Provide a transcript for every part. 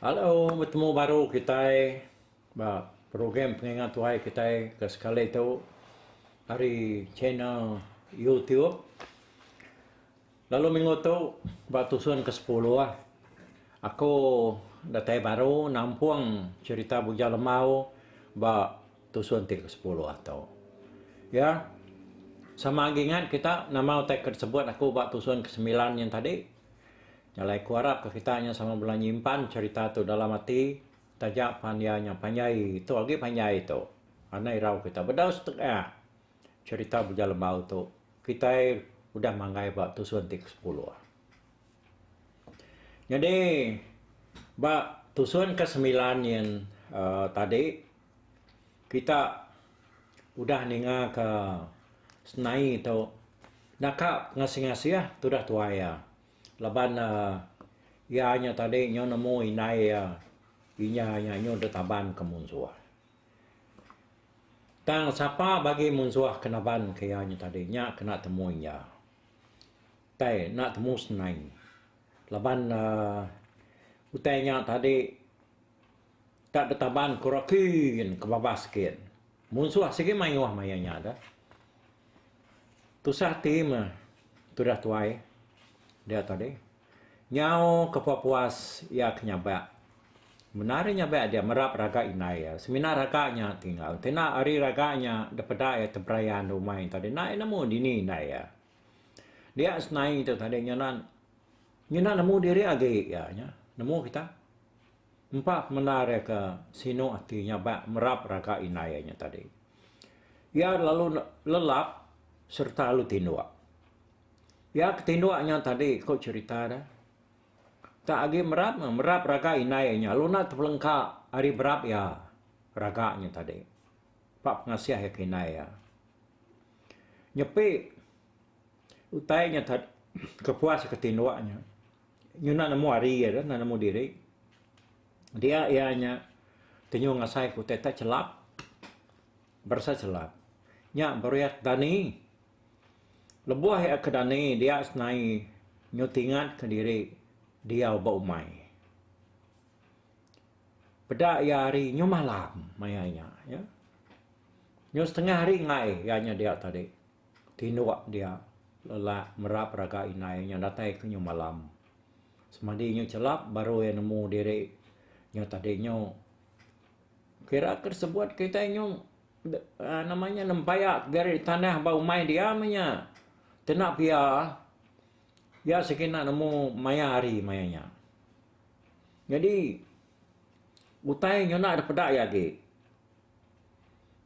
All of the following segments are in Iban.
Hello betemu baru kitai ba program pengingat tuai kitai ke sekali tu ari channel YouTube. Lalu minggu tu ba tusun ke sepuluh aku datai baru nampung cherita Bujang Lemau ba Tu suntik ke sepuluh atu. Ya. Sama agi ngat kita nama utai ke disebut aku ba tusun ke semilan nyin tadi. Jalai ku arap ka kita nya sama bela nyimpan cerita tu dalam ati taja pan iya nya panjai tu agi panjai tu. Anai irau kita bedau setengah cerita Buja Lembau tu kitai udah manggai ba tusun ti ke sepuluh. Nyadi ba tusun ke semilan nyin uhh tadi kita udah ninga ka senai tu naka ngasih-ngasih tudah tuai iya laban uhh iya nya tadi nyu nemu indai iya inya nya nyu deh taban ka munsuh. Tang sapa bagi munsuh ke naban ka iya nya tadi nya ke enda temu inya. Utai enda temu senai laban uhh utai nya tadi. Ka betaban kura kin ke babas kin. Munsuh sigi mayuh maya nya da. Tusah ati meh tudah tuai dia tadi. Nyau ke pepuas iya ke nyabak. Bendar iya nyabak dia merap raga indai iya. Semina raga nya ti enggau. Enti enda ari raga nya da peda iya teberaya nda umai tadi enda iya nemu dini indai iya. Dia senai tu tadi nya nan. Ngena nemu diri agi iya nya. Nemu kita. Empa pemendar iya ke sinu ati nya ba merap raga indai iya nya tadi. Iya lalu lelap sereta lalu tinduk. Iya ke tinduk nya tadi ku cherita dia. Tak agi merap, merap raga indai iya nya lalu enda tepelengka ari berap iya raga nya tadi. Empa pengasih iya ke indai iya. Nyepi. Utai nya tad ke puas ke tinduk nya nyuna nemu ari iya enda nemu diri. Dia iya nya tenyu ngasai ke utai tad chelap berasa chelap. Nya beriak dani. Lebuh iya ke dani dia senai nyutingat ke diri diau ba umai. Peda iya hari nyu malam maya nya. Nyu setengah hari enggai iya nya dia tadi. Tinduk dia lelak merap raga indai nya datai ke nyu malam. Semadi nyu chelap baru iya nemu diri nya tadi nyu kira ke sebut kitai nyu uhh nama nya nempeyak gari tanah ba umai dia meh nya. Kena pia iya sekena nemu maya hari maya nya. Nyadi utai nyenda dipeda iya agi.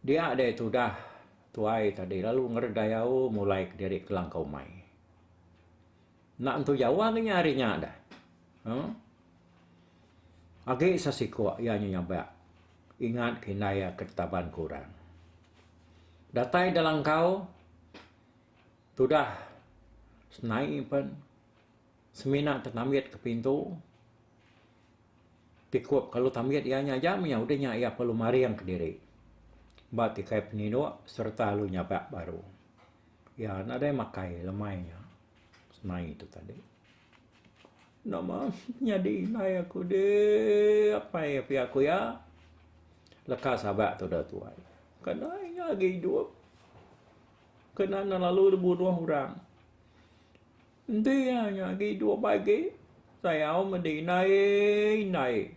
Dia deh tudah tuai tadi lalu ngered dayau mulai kediri kelangkau umai. Enda entu Jawa ke nya hari nya deh. Huh. Agi sesikok iya nya nyabak ingat ke indai iya ke ditaban ke orang. Datai Delangkau tudah senai pen. semina te tambit ke pintu ti ku kalu tambit iya nya aja mih udah nya iya perlu maring ke diri ba ti kai penindok sereta alu nyaga baru iya nadai makai lemai nya semai tu tadi nama nyadi indai aku di apai pia ku iya leka saga tu dah tuai ke nai nya agi idup ke na lalu dibunuh orang. Enti iya nya agi dua bagi, sayau meh diindai-indai.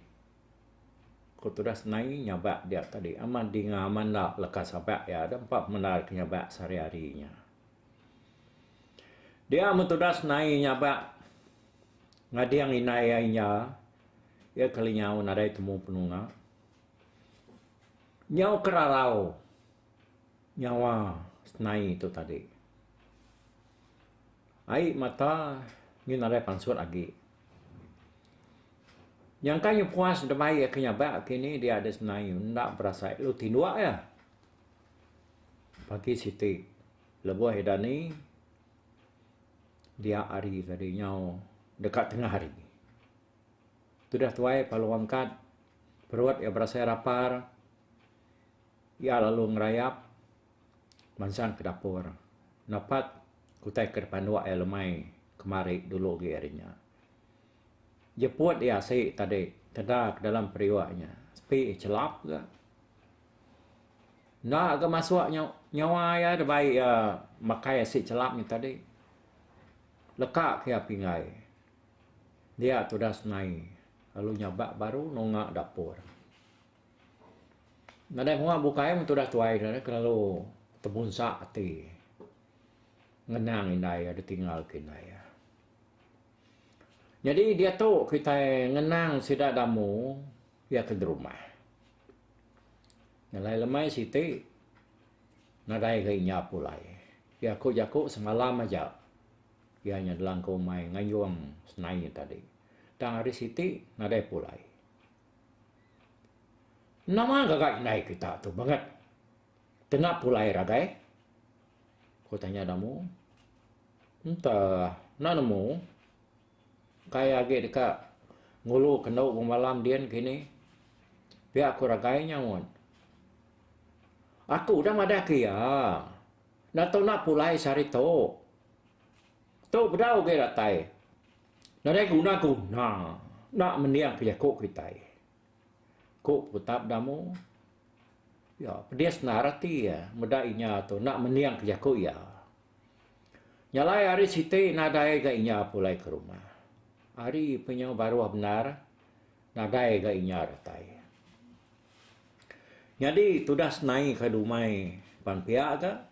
Ku tudas nai nyabak dia tadi amat dinga amat enda leka sabak iya deh empa pemendar ke nyabak sehari-hari nya. Dia meh tudas nai nyabak ngading indai iya inja, iya keli nyau nadai temu penunga. Nyau ke rarau nyawa senai tu tadi. Ai mata nyu nadai pansut agi. Nyangka nyu puas deba iya ke nyabak ke ni dia ada sendai nyu enda berasai lalu tinduk iya. Pagi siti lebuh ida ni dia hari tadi nyau deka tengah hari. Tudah tuai palu angkat perut iya berasai rapar. Iya lalu ngerayap mansang ke dapur nepat utai ke dipanduk iya lemai kemari dulu agi ari nya. Jeput iya asi tadi keda ke dalam periuk nya sepi chelap ga. Enda ga masuk nyu nyawa iya deba iya makai asi chelap nya tadi. Leka ke iya pinggai. Dia tudas nai lalu nyabak baru nunga dapur. Nadai muak bukai men tudah tuai ne kelalu tebunsa ati ngenang indai iya ditinggalka indai iya. Nyadi diatu kitai ngenang sida da amu iya ke derumah. Alai lemai siti nadai ga inya pulai. Iya ku jaku semalam aja iya nya delangku mai ngayung senai tadi. Tang ari siti nadai pulai. Nama gaga indai kita tu bangat kena pulai ragai? Ku tanya dau ambo. Enta enda nemu kai agi deka ngulu kendu bemalam din kini. Pia ku ragai nya wan. Aku udah madah ke iya. Enda tau enda pulai sehari tu. Tu bedau agi datai. Nadai guna guna enda mending ke jaku kitai. Ku Putap Damu. Iya pedis endar ati iya meda inya tu enda mending ke jaku iya. Nya alai hari siti nadai ga inya pulai ke rumah. Hari penyu baruh bendar nadai ga inya datai. Nyadi tudah senai ka dumai pan pia ga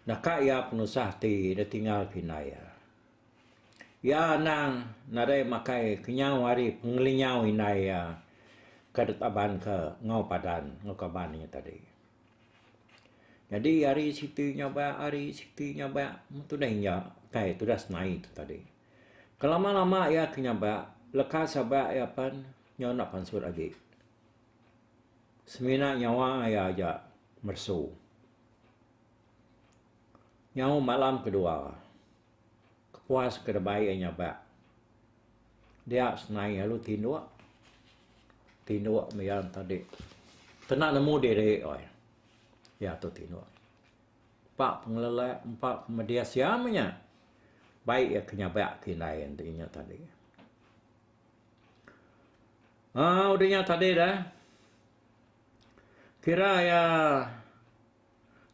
naka iya penusah ti ditinggal ke indai iya. Iya anang nadai makai kenyau ari pengelinyau indai iya ke ditabanka enggau padan enggau kaban iya tadi. Nyadi ari siti nyaba ari siti nyaba meh tundah iya kai tundah senai tu tadi. Kelama-lama iya ke nyaba leka saba iya pen nyau enda pansut agi. Semina nyawa iya aja meresu. Nyau malam kedua. Kepuas ke deba iya nyabak dia senai lalu tinduk tinduk meh iya enta di kena nemu diri oi iya tu tinduk empa pengelelak empa pemedis iya meh nya baik iya ke nyabak ke indai enti nya tadi um udah nya tadi dah kira iya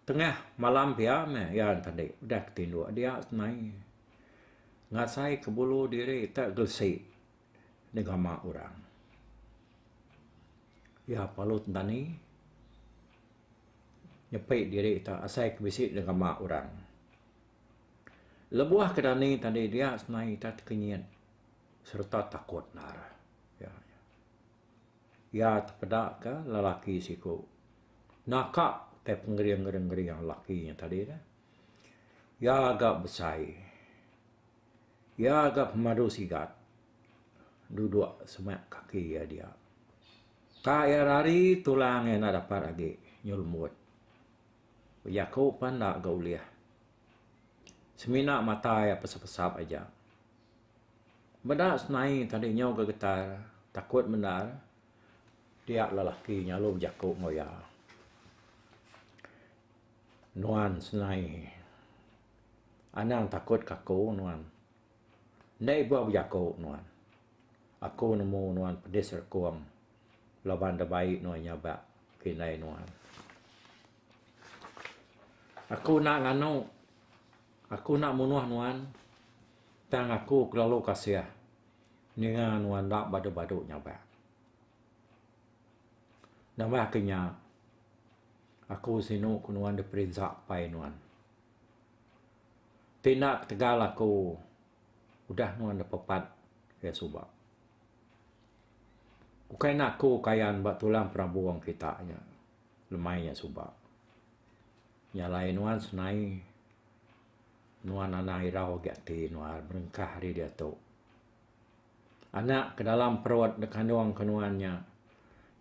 Tengah malam pia meh iya enta andi udah ke tinduk dia senai ngasai ke bulu diri te gelesi negama orang. Iya palut dani nyepi diri te asai ke bisi negama orang. Lebuh ke dani tadi dia senai enta tekenyit sereta takut ngarah iya. Iya tepeda ke lelaki siku naka utai pengering ngering lelaki nya tadi dah. Iya ga besai. Iya ga pemadu sigat duduk semaya kaki iya dia. Ka iya rari tulang iya enda dapat agi nyelumut. Bejaku pun enda ga ulih. Semina mata iya pesap-pesap aja. Meda senai tadi nyau ga getar takut bendar dia lelaki nya lalu bejaku enggau iya. Nuan senai anang takut ka aku nuan. Enda ibuh bejaku nuan. Aku nemu nuan pedis rekung. laban da bai nuan nyabak ke indai nuan. Aku enda nganu. Aku enda munuh nuan. Tang aku kelalu kasih ninga nuan enda badu-badu nyabak. Nambah ke nya, aku sinu ku nuan diperinsa pai nuan. Ti enda ketegal aku udah nuan da pepat ke suba. Ukai enda aku kayan ba tulang perabung kita nya lemai nya suba. Nya alai nuan senai nuan anang irau agi ati nuan berengkah ari diatu. Anak ke dalam perut da kandung ke nuan nya,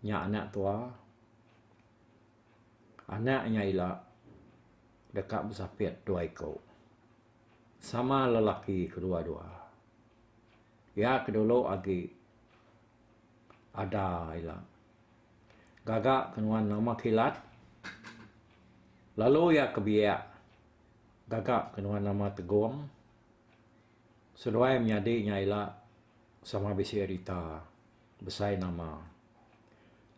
nya anak tua. Anak nya ila deka besapit dua iku. Sama lelaki kedua-dua. Iya ke dulu agi ada ila. Gaga ke nuan nama kilat lalu iya ke biak gaga ke nuan nama tegong seduai menyadi nya ila sama bisi rita besai nama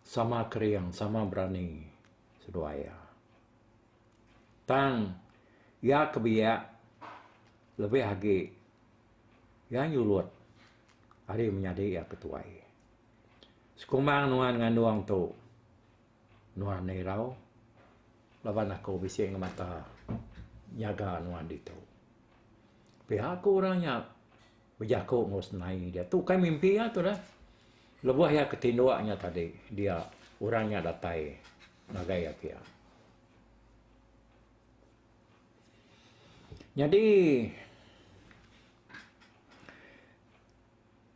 sama kering sama berani seduai iya. Tang iya ke biak lebih agi. Iya nyulut ari menyadi iya ke tuai. Sekumang nuan ngandung tu, nuan irau laban aku bisi ngemata nyaga nuan ditu. Pia ku orang nya bejaku enggau senai dia. Tu kai mimpi iya tu dah. Lebuh iya ke tinduk nya tadi, dia orang nya datai ngagai iya pia. Nyadi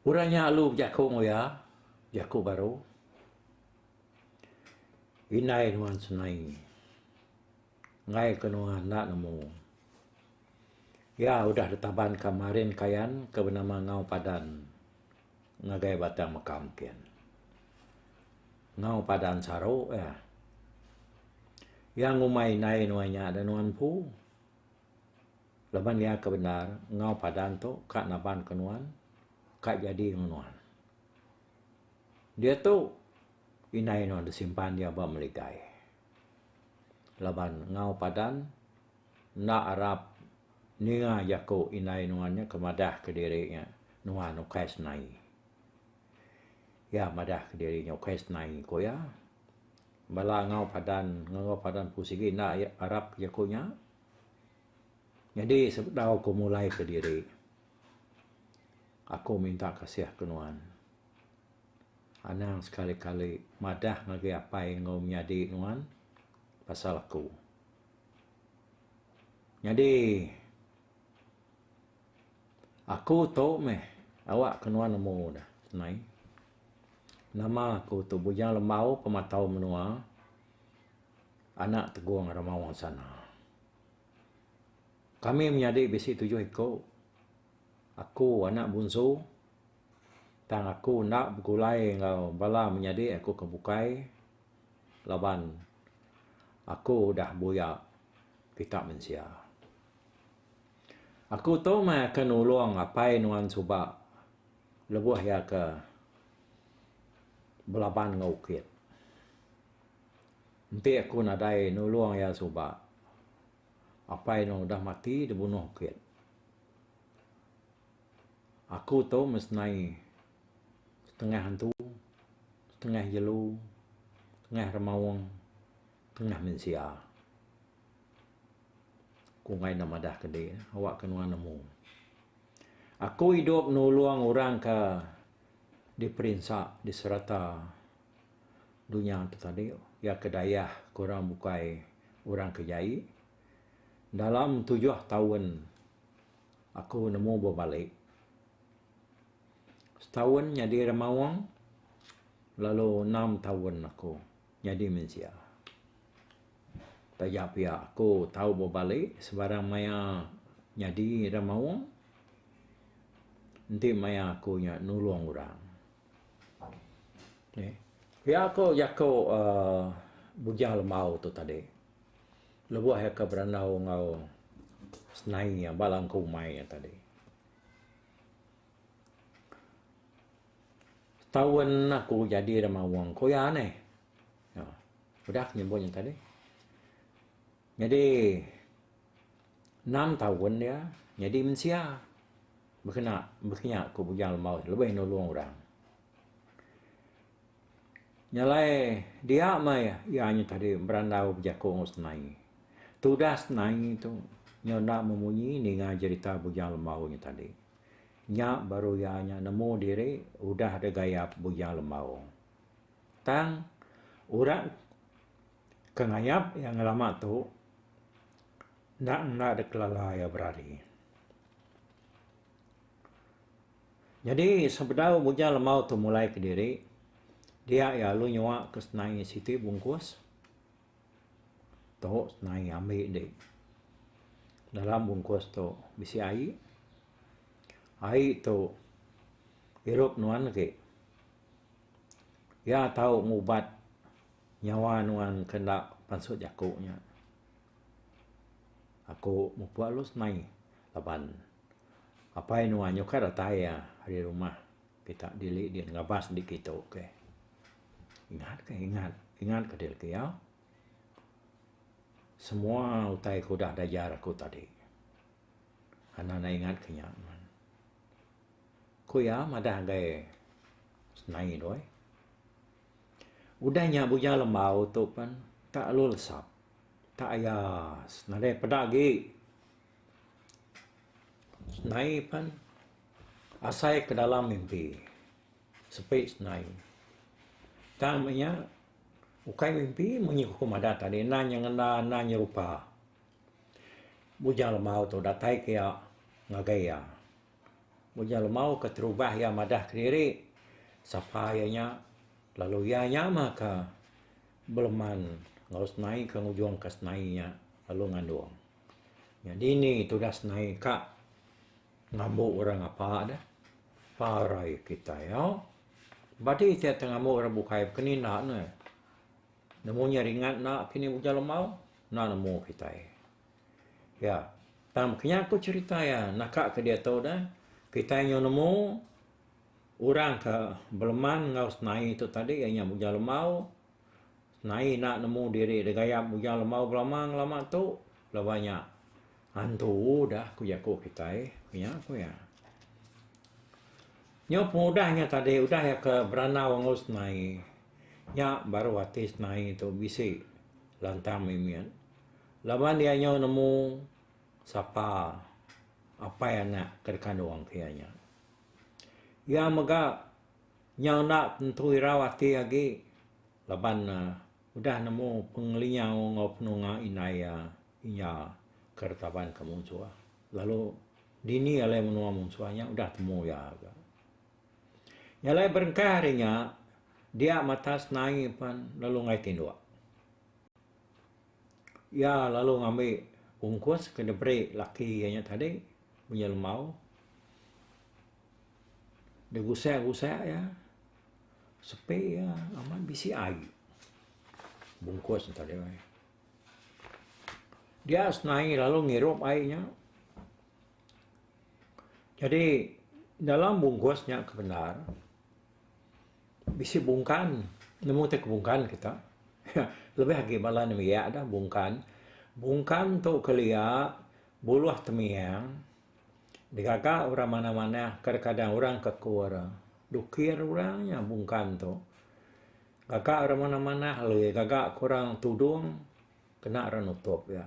orang nya alu bejaku enggau iya jaku baru indai nuan senai enggai ke nuan enda nemu iya udah ditaban ka Marin Kayan ke benama Ngau Padan. Ngagai batang mekam kin. Ngau padan saru iya. Iya ngumbai indai nuan nya da nuan empu. Laban iya ke bendar ngau padan tu ka naban ke nuan ka jadi ngan nuan. Diatu indai nuan disimpan iya ba meligai. Laban ngau padan. Enda arap ninga jaku indai nuan nya ke madah ke diri nya nuan ukai senai. Iya madah ke diri nya ukai senai ku iya. Bala enggau padan enggau padan ku sigi enda arap jaku nya. Nyadi sebedau ku mulai ke diri aku minta kasih ke nuan. Anang sekali kali madah ngagai apai enggau menyadi nuan pasal aku. Nyadi aku tu meh awak ke nuan nemu da nai. Nama aku tu Bujang Lembau pematau menua anak Tegong Rama Wang Sana. Kami menyadi bisi tujuh iku. Aku anak bunsu tang aku enda begulai enggau bala menyadi aku ke bukai. laban aku udah buya kita mensia. Aku tu meh akan nulung apai nuan suba lebuh iya ke belaban enggau ukit. Enti aku nadai nulung iya suba, apai nuan udah mati dibunuh ukit. Aku tu mesnai setengah antu, setengah jelu, setengah remaung, setengah mensia. Ku enggai ne madah ke dih awakka nuan nemu. Aku idup nulung orang ke diperinsa di serata dunya ti tadi iya ke dayak ke orang bukai orang ke jai. Dalam tujuh taun aku nemu bebali. Setaun nyadi remaung lalu enam taun aku nyadi mensia. Taja pia aku tau bebali sebarang maya nyadi remaung enti maya aku nya nulung orang. Nih, pia aku jaku aaa Bujang Lembau tu tadi. Lebuh iya ke berandau enggau senai iya ba langkau umai iya tadi. Taun aku jadi da Mawong ku iya neh. Aaa udah aku nyebut nya tadi. Nyadi enam taun dia nyadi mensia bekena bekinya ku bujang lembau lebih nulung orang. Nyelai dia meh iya nya tadi berandau bejaku enggau senai. Tudah senai tu nyau enda memunyi ninga jerita Bujang Lembau nya tadi. Nya baru iya nya nemu diri udah deh gayap Bujang Lembau. Tang orang ke ngayap iya ngelama tu enda ngena deh kelala iya berari. Nyadi, sebedau Bujang Lemau tu mulai kediri, dia iya alu nyua ke senai siti bungkus. Tu senai ambi di. Dalam bungkus tu bisi ai. Ai tu irup nuan agi. Iya tau ngubat nyawa nuan ke enda pansut jaku nya. Aku mupuk alus mai laban apai nuwa nyukar datai iya ari rumah kita dili di Ngabas indi kitu ke. Ingat ke ingat, ingat ke diri ke iya. Semua utai ke udah diajar aku tadi enda ne ingat ke nya. Ku iya madah ngagai nai doi. Udah nya bujang lembau tu pen tak lalu lesap. Taayas nadai peda agi nai pen asai ke dalam mimpi sepi nai tang meh nya ukai mimpi meng nya ku madah tadi nan nya ngena nan nya rupa ujar lemau tu datai ke iya ngagai iya ujar lemau ke terubah iya madah kediri sapa iya nya lalu iya nya meh ka Beleman enggau senai ke ngujung ka senai nya lalu ngandung. Nya dini tudah senai ka ngambu orang ngapa deh. Parai kitai au. Badi ti ati ngambu orang bukai baka ni enda ne. Nemu nya ringat enda kini ujar lemau. Enda nemu kitai. Ya, tang kinya ku cerita iya naka ke diatu deh. Kitai nyau nemu. Orang ke beleman enggau senai tu tadi iya nya Bujang Lemau. Senai enda nemu diri dek gayap Bujang Lemau belama ngelama tu laban iya nya antu udah ku jaku kitai. Ku nya ku iya. Nyau pengudah nya tadi udah iya ke berandau enggau senai nya baru ati senai tu bisi lantang mimit laban iya nyau nemu sapa apai anak ke dikandung ke iya nya. Iya mega nyau enda tentu irau ati agi laban udah nemu pengelinyau enggau penunga indai iya inya ke retaban ke munsuh lalu dini alai menua munsuh nya udah temu iya ga. Nya alai berengkah ari nya dia mata senai pen lalu ngai tinduk. Iya lalu ngambi ungkus ke diberi laki iya nya tadi. Unyau Lemau degusak-gusak iya sepi iya amat bisi ai bungkus enta deh weh. Dia senai lalu ngirup ai nya. Jadi dalam bungkus nya ke bendar bisi bungkan nemu ti ke bungkan kita lebih agi bala ne mia dah bungkan. Bungkan tu kelia Buluh temiang, digaga orang manah-manah kadang-kadang orang ke kur dukir orang nya bungkan tu. Gaga orang manah-manah alai gaga ke orang tudung kena orang nutup iya.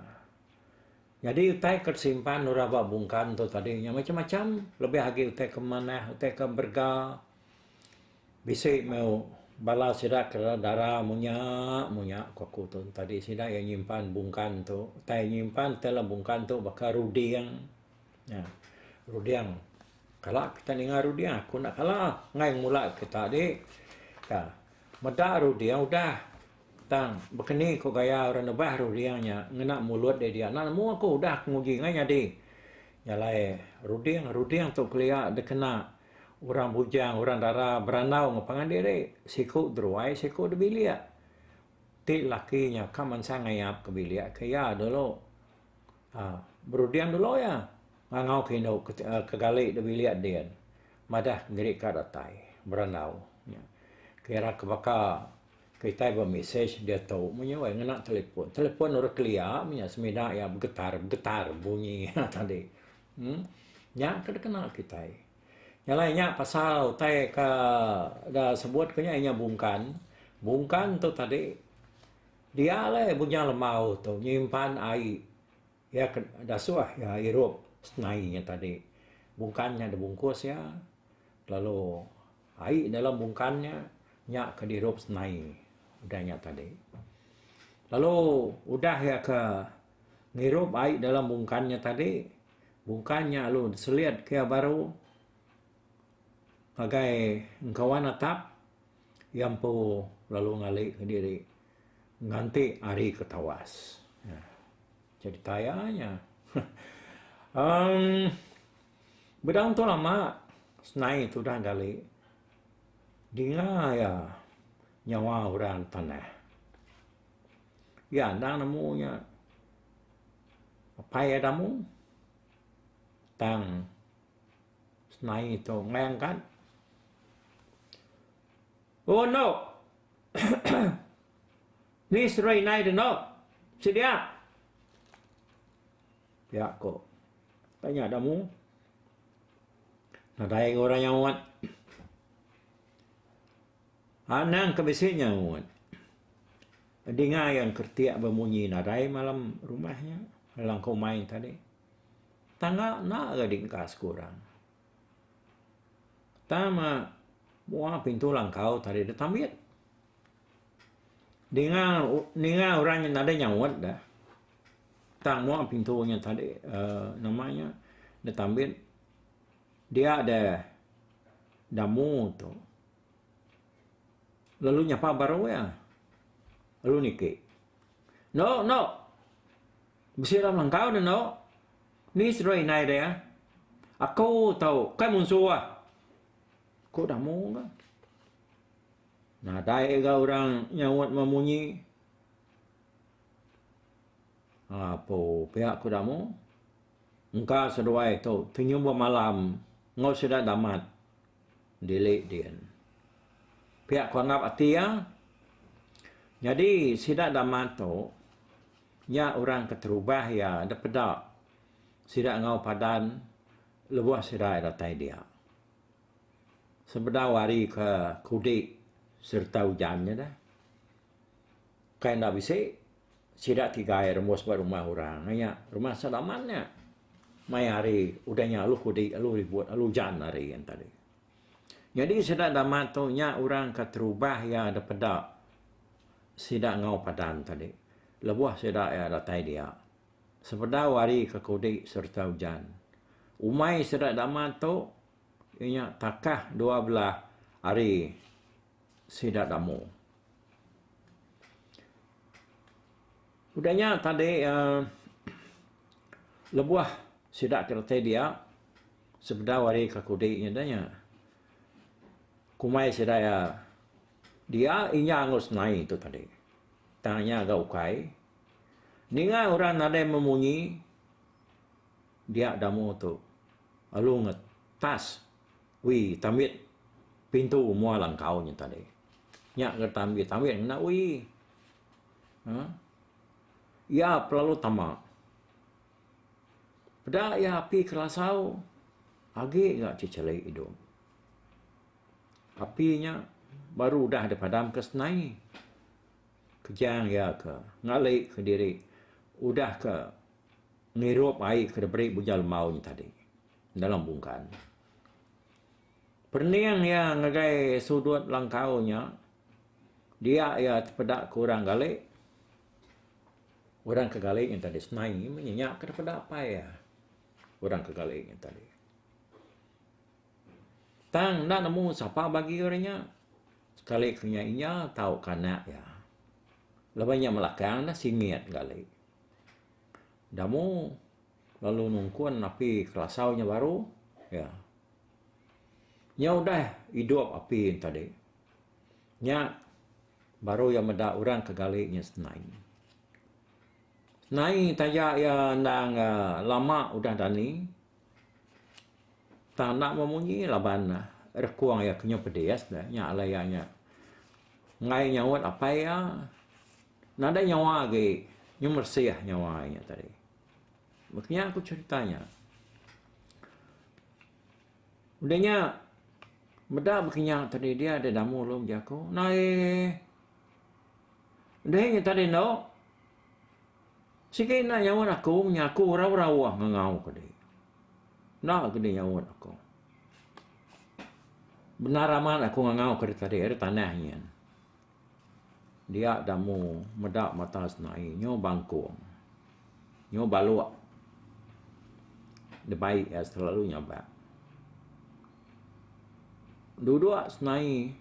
Nyadi utai ke disimpan orang ba bungkan tu tadi nya macam-macam lebih agi utai ke manah, utai ke berega. Bisi meh bala sida ke dara munya munya ku aku tu tadi sida iya nyimpan bungkan tu utai nyimpan ti alah bungkan tu baka ruding nya ruding kala kita ninga ruding aku enda kala ngai mula kita di ka meda ruding udah tang baka ni ku gaya orang nebah ruding nya ngena mulut dia dia enda nemu aku udah aku nguji ngai nyadi nya alai ruding ruding tu kelia dikena. Orang bujang, orang dara berandau enggau pangan diri, siku deruai, siku debilik. Ti laki nya ka mansang ngayap ke bilik ke iya dulu. Aaa, beruding dulu iya ngangau ke indu ke gali da bilik din. Madah kendiri ka datai berandau nya. Kira ke baka kitai bemesej diatu meh nya weh ngena telefon. Telefon orang kelia meh nya semina iya begetar-begetar bunyi tadi. Nya ke dikena kitai. Nya alai nya pasal utai ke da sebut ku nya inya bungkan. Bungkan tu tadi dia alai bunyi lembau tu nyimpan ai iya ke da suah iya irup nai nya tadi. Bungkan nya da bungkus iya lalu ai dalam bungkan nya, nya ke dirup nai udah nya tadi. Lalu udah iya ke. ngirup ai dalam bungkan nya tadi bungkan nya lalu selit ke iya baru ngagai engkawan atap iya empu lalu ngali kediri nganti hari ke tawas cerita iya nya um bedau tu lama senai tudah gali dinga iya nyawa orang tanah. Iya anang nemu nya apai iya da amung tang senai tu meh angkat. O enok ni seri inai de enok sedia pia ko apai nya da amung nadai orang nyaut. Anang ke bisi nyaut dinga iya engkeretik bemunyi nadai malam rumah nya alangka umai tadi. Tangga enda ga diengka sekurang. Tama mua pintu langkau tadi ditambit. Dinga ninga orang nya nadai nyaut da tang mua pintu nya tadi uhh nama nya ditambit dia da damu tu. Lalu nyapa baru iya. Lalu niki. No, no. Bisi ram langkau dah no. Ni seduai indai dia. Ya? Aku tau kai munsu ah. Ku damu ka. Nadai ga orang nyaut mah munyi. Apo pia ku damu. Engka seduai tu tenyum bemalam ngau sida damat. Dili din. Pia ku anggap ati iya. Nyadi sida dama tu nya orang ke terubah iya enda peda sida enggau padan lebuh sida iya datai dia. Sebedau ari ke kudi sereta ujan nya deh. Kai enda bisi. Sida kigai rembus ba rumah orang nya, rumah sedaman nya. Mai hari udah nya aluh kudi, aluh ribut, aluh ujan hari nya tadi. Nyadi sida enda mantu nya orang ke terubah iya da peda sida enggau padan tadi lebuh sida iya datai dia. Sepedau hari ke kudi sereta ujan. Umai sida da mantu iya nya takah dua belah hari. sida damu. Udah nya tadi uhh lebuh sida ke reti dia sebedau ari ke kudi nya deh nya kumai sida iya dia inya enggau senai tu tadi tang nya ga ukai ninga orang nadai memunyi dia damu tu lalu ngetas Ui, tambit pintu mua langkau nya tadi. Nya ke tambit, tambit ngena ui. Ha? Iya pelalu tama. Peda iya api kelasau agi ga ceceli idup. Api nya baru udah dipadam ke senai. Kejang iya ke ngali ke diri udah ke ngirup ai ke diberi Bunya Lembau nya tadi. dalam bungkan. Pening iya ngagai sudut langkau nya, dia iya tepeda ke orang gali. Orang ke gali nya tadi senai meh nya ke tepeda apai iya. Orang ke gali nya tadi. Tang enda nemu sapa bagi orang nya. Sekali ke nya inya tauka anak iya. Lebuh inya melakang ne singit gali. Enda mu. Lalu nungkun api kelasau nya baru iya. Nya udah idup api enta deh. Nya baru iya meda orang ke gali nya senai. Senai taja iya endang lama udah dani tang enda memunyi laban rekung iya kenyau pedis deh. Nya alai iya nya enggai nyaut apai iya nadai nyawa agi nyu meresih nyawa iya nya tadi. Maka nya aku cerita nya. Udah nya meda bekenyang tadi dia ada damu lu mja aku. Nai. Udah nya tadi no. Sikit nak nyaut aku, nya aku rau-rau ah ngau ke dia. Nak ke dia nyaut aku. Benar amat aku ngau ke dia tadi, ada tanah nyen. Dia damu meda mata senai nyu bangkung nyu balok dibai iya selalu nyabak. Dudok senai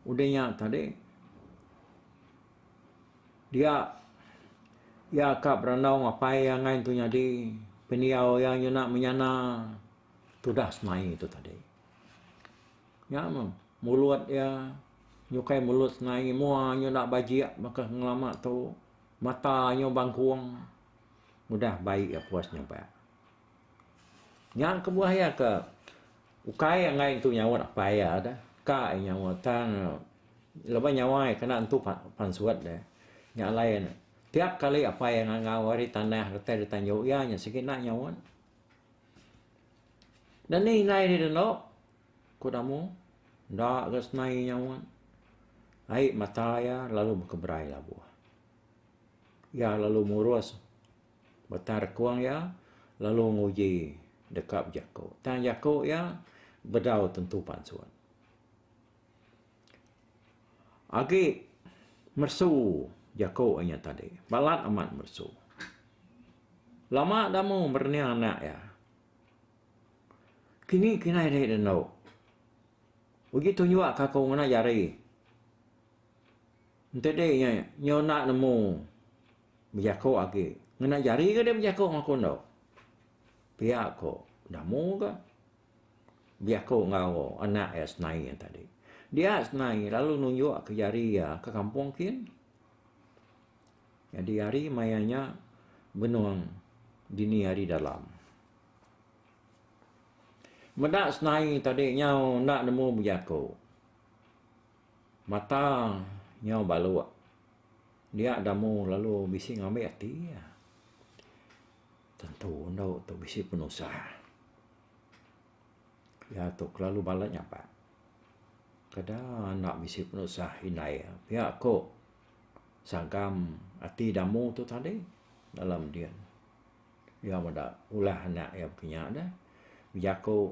udih nya tadi dia iya ka berandau ngapai iya ngai tu nyadi pendiau iya nyuna menyana tudah senai tu tadi. Nya meh, mulut iya nyukai mulut senai, mua nya enda bajik baka ngelama tu, mata nya bangkung. Udah bai iya puas nyampai. Nya kebuah iya ke ukai enggai entu nyaut apai iya deh. Ka iya nyaut tang laban nyawa iya kena entu pansut deh. Nya alai ne, tiap kali apai iya ngangau ari tanah retai dita indu iya nya sigi enda nyaut. Deh ni indai diri enda. Ku Damu, enda ga senai nyaut. Ai mata iya lalu bekeberai labuh. Iya lalu murus batang rekung iya lalu nguji deka bejaku. Tang jaku iya bedau tentu pansut. Agi meresu jaku inya tadi. Balat amat meresu. Lama Damu merening anak iya. Kini kinai deh ida endu. Uji tu nyua ka aku ngena jari. Enti deh inya inya enda nemu bejaku agi. Ngena jari ke deh bejaku enggau aku endu. Pia ku enda mu ga. Bejaku enggau anak iya senai iya tadi. Dia senai lalu nunjuk ke jari iya ke kampung kin. Nyadi hari maya nya benung dini hari dalam. Meda senai tadi nyau enda nemu bejaku. Mata nyau baluk. Dia damu lalu bisi ngambi ati iya. Tentu endu tu bisi penusah. Iya tu kelalu bala nyapat. Kada enda bisi penusah indai iya. Pia ku. sagam ati damu tu tadi dalam din iya meda ulah anak iya kinya da bejaku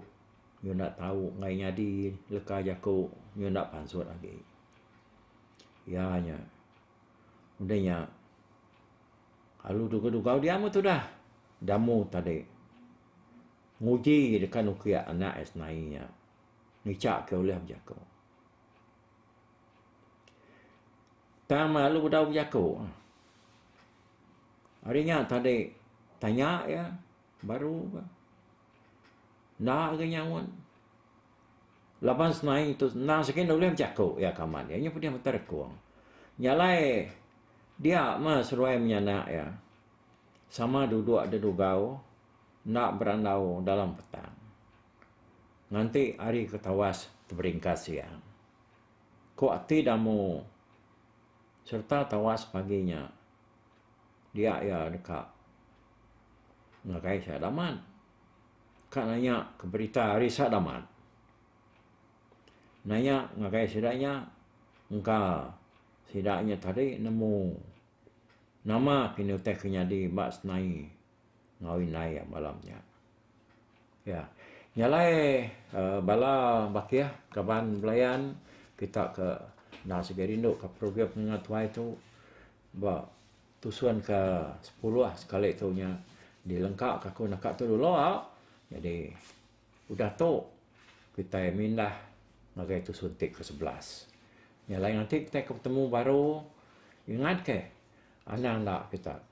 iyu enda tau enggai nyadi leka jaku iyu enda pansut agi iya nya udah nya alu dugau dugau dia meh tudah damu tadi nguji deka nuki anak iya senai nya ngicha ke ulih bejaku. Tang lalu udah bejaku. Ari nya tadi tanya iya baru ka enda lagi nyaut. Laban senaie ngitu senang sikit nda ulih bejaku iya kaman iya nya pedeh mata rekung. Nya alai dia meh seduai menyanak iya sama duduk da dugau enda berandau dalam petang. Nganti ari ku tawas teberingkas iya. Ku ati Damu sereta tawas pagi nya dia iya deka ngagai Sadamat. Ka nanya ke berita ari Sadamat. Nanya ngagai sida nya engka sida nya tadi nemu nama kini utai ke nyadi ba senai ngawi indai iya malam nya. Ya. Nya alai uhh bala bakih kaban belayan kita ke enda sibi rindu ka program menua tuai tu ba tusun ka sepuluh sekali tu nya dilengka ka ku naka tu dulu jadi udah tu kitai mindah ngagai tusun ti ke sebelas. Nya alai ngatik kitai ke petemu baru ingat ke anang enda kita.